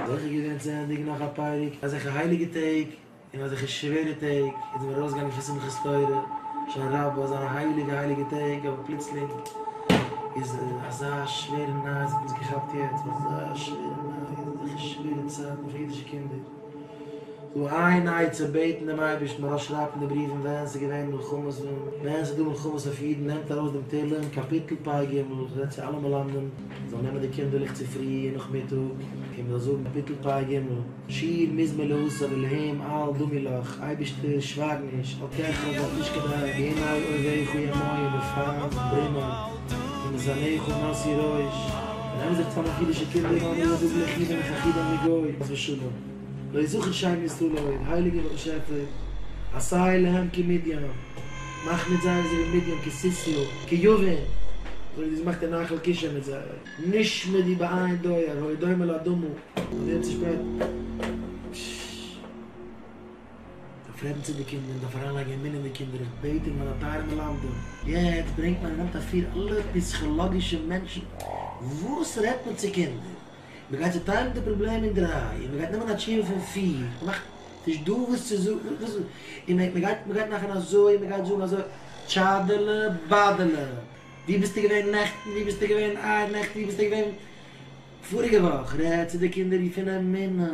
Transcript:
אויך איז געווען צו ענדיגן נאך א פרק, אזעלכע הייליגע טעג און אזעלכע שווערע טעג איז מען ארויסגעגאנגען פון שמחת תורה, הושענא רבה אזאנע הייליגע הייליגע טעג אבער פלוצלינג איז אזא שווערע נייעס האט אונז געכאפט יעצט, אזא שווערע נייעס, אזעלכע שווערע צייטן פאר אידישע קינדער. דא איין עצה, בעטן דעם אייבערשטן, מרש שרייבט אין די בריוון ווען ס'איז געווען מלחמות און ווען ס'איז דא מלחמות אויף אידן, נעמט ארויס דעם תהלים קאפיטל פ ג, רעדט צו אלע מלמדים זאלן נעמען די קינדערלעך צופרי און נאכמיטאג און מ'זאל זאגן קאפיטל פ ג, שיר מזמור לעשו ולהם אל דמי לך, אייבערשטער שווייג נישט, אל תחרב ואל תשקוט עין, הנה אויביך ימיו בפעם ברימה. און די זאַנעך און נאַסי רױש נעמען זיך צאַם אױף אידישע קינדער און אָדער זאָגן לחי בין איך אַ חידא מגוי חס ושלום לא זכר שם ישראל עוד הײליגער באַשעפער עשי להם כמדיין מאַך מיט זײ אַזױ װי מדיין כסיסרא כיוון אַזױ װי דו האָסט געמאַכט אין נחל קישון מיט זײ נשמע די בעין דויער הוי דומה לאדמו ר און די אונטערשפּרײט דארף רעדן צו די קינדער, מ'דארף אריינלייגן אמונה אין די קינדער, איך בעט אין מיינע טייערע מלמדים, יעצט ברענגט מען און נעמט אפיר אלע פיסכאלאגישע מענטשן, וואס רעדט מען צו קינדער? מ'גייט צוטיילן די פראבלעם אין דריי, און מ'גייט נעמען א תשובה פון פיר, מ'מאכט נישט דא וואס צו זאגן, וואס, און מ'גייט, מ'גייט מאכן אזוי און מ'גייט זאגן אזוי, טשאדעלע באדעלע, וואו ביסטו געווען נעכטן, וואו ביסטו געווען אייר נעכטן, וואו ביסטו געווען פאריגע וואך, רעד צו די קינדער פון אמונה.